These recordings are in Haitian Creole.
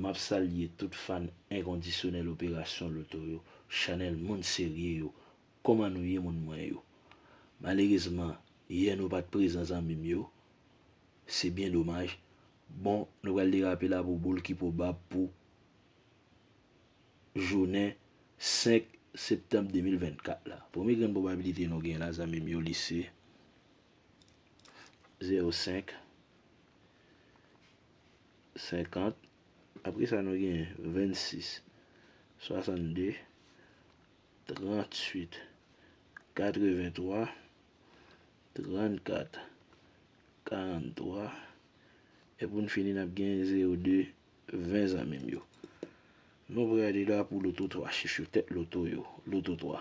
Map salye tout fan enkondisyonèl operasyon loto yo chanèl moun serye yo koman nou ye moun mwen yo malerezman yè nou pat prezan zanmim yo se byen domaj bon nou pral derape la pou boul ki pwobab pou jounen 5 septanb 2024 la premye grenn pwobabilite nou gen la zanmim yo li se. Zero senk. Senkant. Apre sa nou gen vennsis. Swasann de. Trant swit. Katre ven twa. Trant kat. Karant twa. E pou n fini n ap gen zero de. Ven zanmi m yo. Nou pre ale la pou loto twa chif yo. Tet loto yo. Loto twa.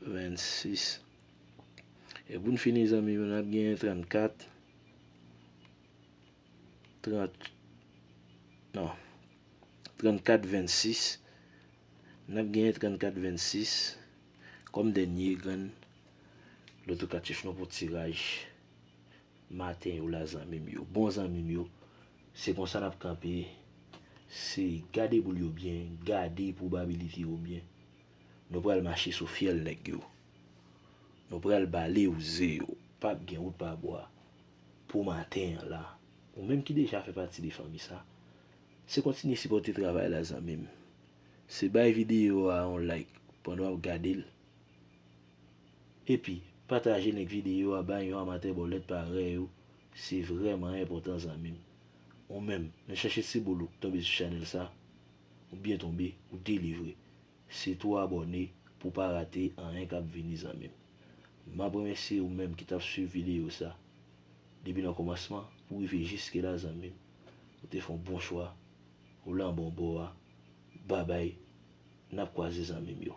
26 e pou n fini zanmi yo n ap genyen 34 30 non 34 26 n ap genyen 34 26 kòm dènye grenn lotokatif nou pou tiraj maten yo la zanmi m yo bon zanmi m yo se konsa n ap kanpe se gade boul yo byen gade pwobabilite yo byen Nou pral mache sou fyèl nèg yo. Nou pral bale ou ze yo. Pap gen wout pa bwa. Pou maten an la. Ou menm ki deja fè pati de fanmi sa. Se kontinye sipòte travay la zanmi m. Se bay videyo a yon like pandan w ap gade l. Epi pataje link videyo a bay yon amatè bòlèt parèy ou. Se vrèman enpòtan zanmi m. Ou menm, nan chache ti boul ou k tonbe sou chanèl sa. Ou byen tonbe ou delivre. Se tou abòne pou pa rate anyen kap vini zanmim. Map remèsye ou menm ki tap swiv videyo sa depi nan kòmansman pou rive jiske la zanmim ou te fon bon chwa ou lan bon bò a babay nap kwaze zanmim yo.